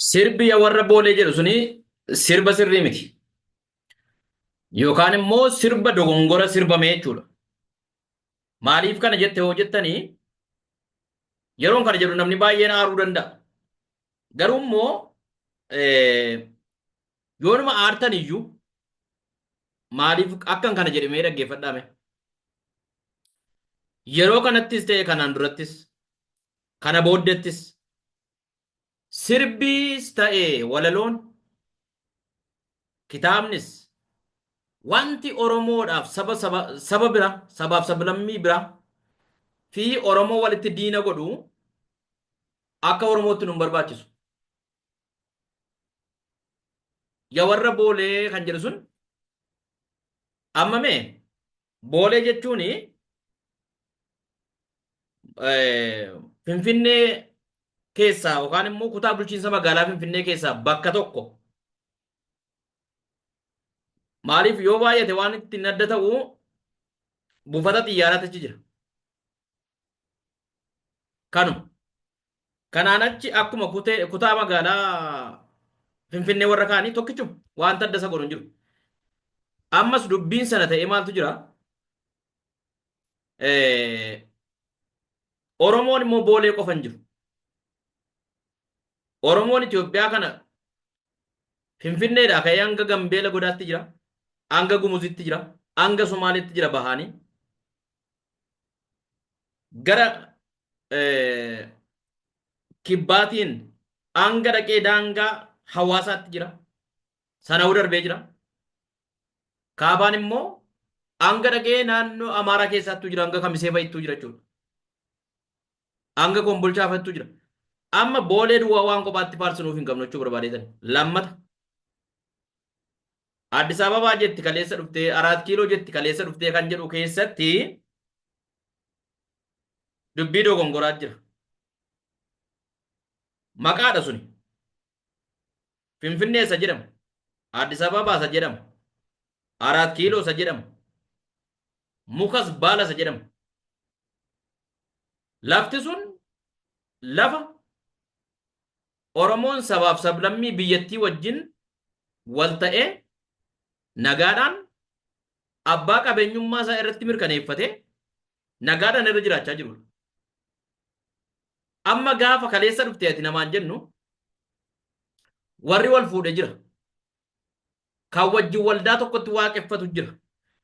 Sirbi ya warra boolee jedhu suni sirba sirrii miti. Yookaan immoo sirba dogongora sirbame jechuudha. Maaliif kana jette hoo jettanii yeroon kana jedhu namni baay'een aaruu danda'a. Garuu immoo Yoonuma aartan iyyuu maaliif akkan kana jedhe mee dhaggeeffadhaa mee. Yeroo kanattis ta'e kanaan durattis kana booddettis sirbiis ta'e walaloon kitaabnis wanti Oromoodhaaf saba saba saba bira sabaaf sablammii bira fi Oromoo walitti diina godhu akka Oromootti nu hin barbaachisu. Ya warra boolee kan jedhu sun amma mee boolee jechuun finfinnee keessaa yookaan immoo kutaa bulchiinsa magaalaa finfinnee keessaa bakka tokko maaliif yoo baay'ate waan ittiin adda ta'u buufata xiyyaaraa achi jira. Kanu. Kanaan achi akkuma kutee kutaa magaalaa Finfinnee warra kaanii tokkichuma wanta adda isa godhu hin jiru. Ammas dubbiin sana ta'ee maaltu jira? Eh, Oromoon immoo boolee qofa hin jiru. Oromoon Itoophiyaa kana Finfinneedhaa ka'ee hanga Gambeela godaatti jira, hanga Gumuzitti jira, hanga Somaaleetti jira bahaanii. gara kibbaatiin hanga dhaqee daangaa hawaasaatti jira. Sana'uu darbee jira. Kaabaan immoo hanga dhaqee naannoo Amaaraa keessaattuu jira hanga Kamisee fa'ittuu jira jechuudha. Hanga Kombolchaa fa'ittuu jira. Amma boolee duwwaa waan kophaatti faarsinuuf hin qabnu jechuu barbaadeetan. Lammata. Addis Ababaa jetti kaleessa dhuftee, Araat Kiiloo jetti kaleessa dhuftee kan jedhu keessatti dubbii dogongoraa jira. Maqaadha suni. Finfinnee isa jedhamu. Addis Ababaa isa jedhamu. Araat Kiiloo isa jedhamu. Mukas baala isa jedhamu. Lafti sun lafa Oromoon sabaaf sablammii biyyattii wajjin wal ta'ee nagaadhaan abbaa qabeenyummaa isaa irratti mirkaneeffatee nagaadhaan irra jiraachaa jirudha. Amma gaafa kaleessa dhufte ati namaan jennu warri wal fuudhe jira. Kan wajjin waldaa tokkotti waaqeffatu jira.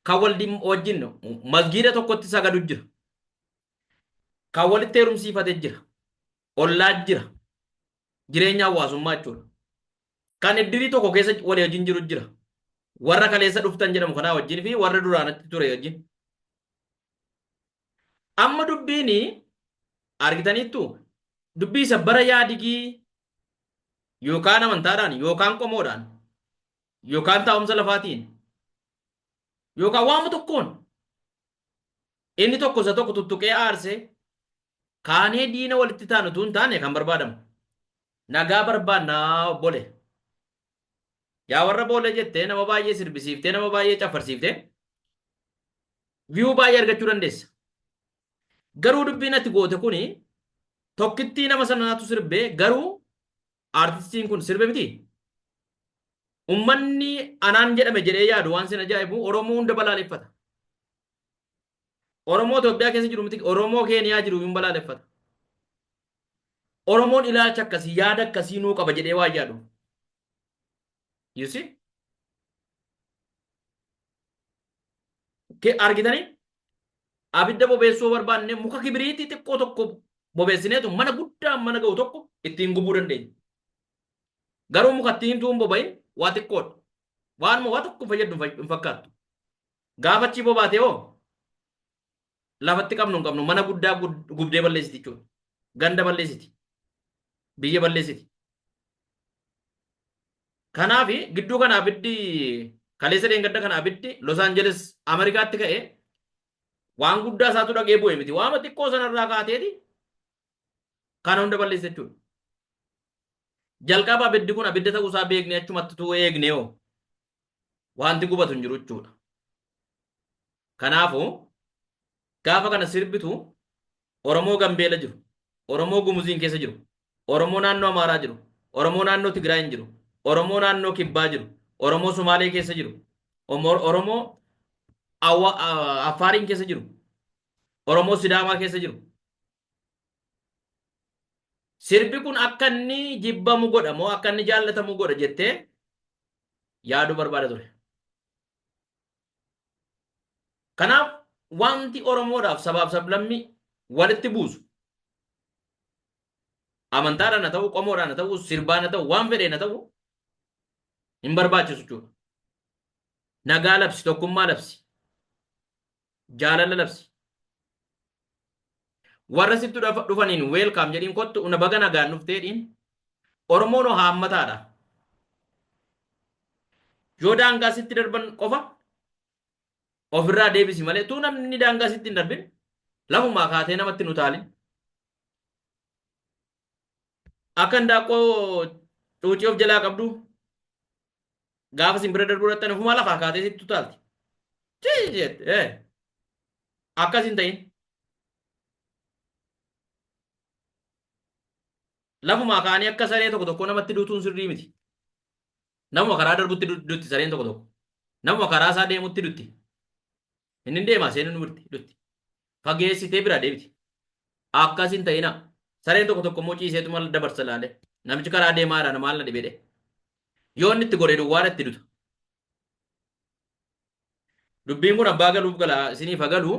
Kan waldin- wajjin masgiida tokkotti sagadu jira. Kan walitti heerumsiifate jira. ollaa jira. Jireenya hawaasummaa jechuudha. Kan iddirii tokko keessa walii wajjin jiru jira. Warra kaleessa dhuftan jedhamu kanaa wajjin fi warra duraanatti ture wajjin. Amma dubbiin argitaniittu dubbii isa bara yaadigii yookaan amantaadhaan yookaan qomoodhaan yookaan taa'umsa lafaatiin yookaan waama tokkoon Inni tokko isa tokko tuttuqee aarsee kaanee diina walitti taanu utuu hin taane kan barbaadamu. Nagaa barbaannaa obbole. Yaa warra boolee jettee nama baay'ee sirbisiiftee nama baay'ee caffarsiiftee viyuu baay'ee argachuu dandeessa. Garuu dubbiin ati goote kuni tokkittii nama sanaatu sirbee garuu Artistiin kun sirbe miti? Ummanni anaan jedhame jedhee yaadu waan sin ajaa'ibu Oromoo hunda balaaleffata. Oromoo Itoophiyaa keessa jiru miti Oromoo Keeniyaa jiru hin balaaleffata. Oromoon ilaalcha akkasii yaada akkasii nuu qaba jedhee waan yaadu. You see? Ke- argitanii abidda bobeessuu yoo barbaanne muka kibiriitii xiqqoo tokko bobeessineetu mana guddaa mana ga'u tokko ittiin gubuu dandeenya. Garuu muka ittiin himtuu hin boba'in waa xiqqoodha. Waanuma waa tokko fayyaddu hin fay- hin fakkaattu. Gaafa achii bobaatee hoo lafatti qabnu hin qabnu mana guddaa gubdee balleessiti jechuudha. Ganda balleessiti. Biyya balleessiti. Kanaaf gidduu kana abiddi kaleessa dheengadda kana abiddi Los Angeles Ameerikaatti ka'e waan guddaa isaatu dhagee bu'e miti. Waama xiqqoo sanarraa kaateeti kana hunda balleessa jechuudha. Jalqaba abiddi kun abidda ta'uu isaa beeknee achumatti tuu eegnee hoo. Wanti gubatu hin jiru jechuudha. Kanaafuu gaafa kana sirbitu Oromoo Gambeela jiru, Oromoo Gumuziin keessa jiru, Oromoo naannoo Amaaraa jiru, Oromoo naannoo Tigraay hin jiru, Oromoo naannoo Kibbaa jiru, Oromoo Somaalee keessa jiru, Omo- Oromoo Awa- A- Affaariin keessa jiru, Oromoo Sidaamaa keessa jiru, Sirbi kun akka inni jibbamu godha moo akka inni jaallatamu godha jettee yaaduu barbaada ture. Kanaaf wanti Oromoodhaaf sabaaf sablammii walitti buusu amantaadhaan haa ta'u, qomoodhaan haa ta'u, sirbaan haa ta'u, waan fedheen haa ta'u hin barbaachisu jechuudha. Nagaa labsi, tokkummaa labsi. jaalala labsi. Warra sittu dhafa- dhufaniin weelkaam jedhiin kottu una baga nagaan dhuftee dhiin. Oromoon hoo haammataadha. Yoo daangaa sitti darban qofa ofirraa deebisi malee tuu namni daangaa sitti hin darbin lafumaa kaatee namatti hin utaalin. Akka handaaqqoo cuucii of jalaa qabdu gaafa isin bira darbuu dhaxxan ofumaa lafaa kaatee sitti utaalti. Cii jette ee akkas hin ta'in. Lafumaa ka'anii akka saree tokko tokko namatti duutuun sirrii miti. Namuma karaa darbutti du- dutti sareen tokko tokko. Namuma karaa isaa deemutti dutti. Inni hin deema seenuun birti hidhutti. Fageessitee biraa deebiti. Akkas hin ta'ina. Sareen tokko tokko immoo ciiseetu maal dabarsa laale. Namichi karaa deemaa jira na maal na dhibedhe. Yoo inni itti goree duwwaa itti duta. Dubbiin kun abbaa galuuf gala isiniif hagalu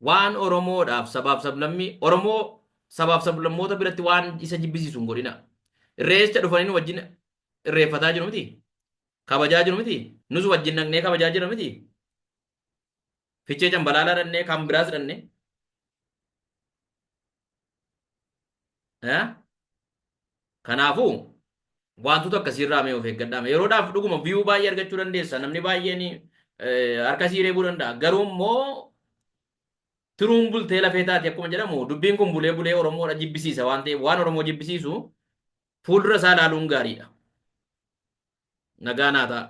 waan Oromoodhaaf sabaaf sablammii Oromoo sabaaf sablammoota biratti waan isa jibbisiisu hin godhina. Irreecha dhufanii nu wajjin irreeffataa jiru miti. kabajaa jiru miti? Nus wajjin dhaqnee kabajaa jirra miti? Fichee cambalaalaa dhaqnee kan biraas dhaqnee. Eh? Kanaafuu wantoota akkasiirraa mee of eeggadhaame. Yeroodhaaf dhuguma viyuu baay'ee argachuu dandeessa. Namni baay'een eh, harka sii reebuu danda'a. Garuu immoo tiruun bultee lafee taati akkuma jedhamu dubbiin kun bulee bulee Oromoodha jibbisiisa waan ta'eef waan Oromoo jibbisiisu Fuuldura isaa ilaaluun gaariidha. Nagaa naa ta'a.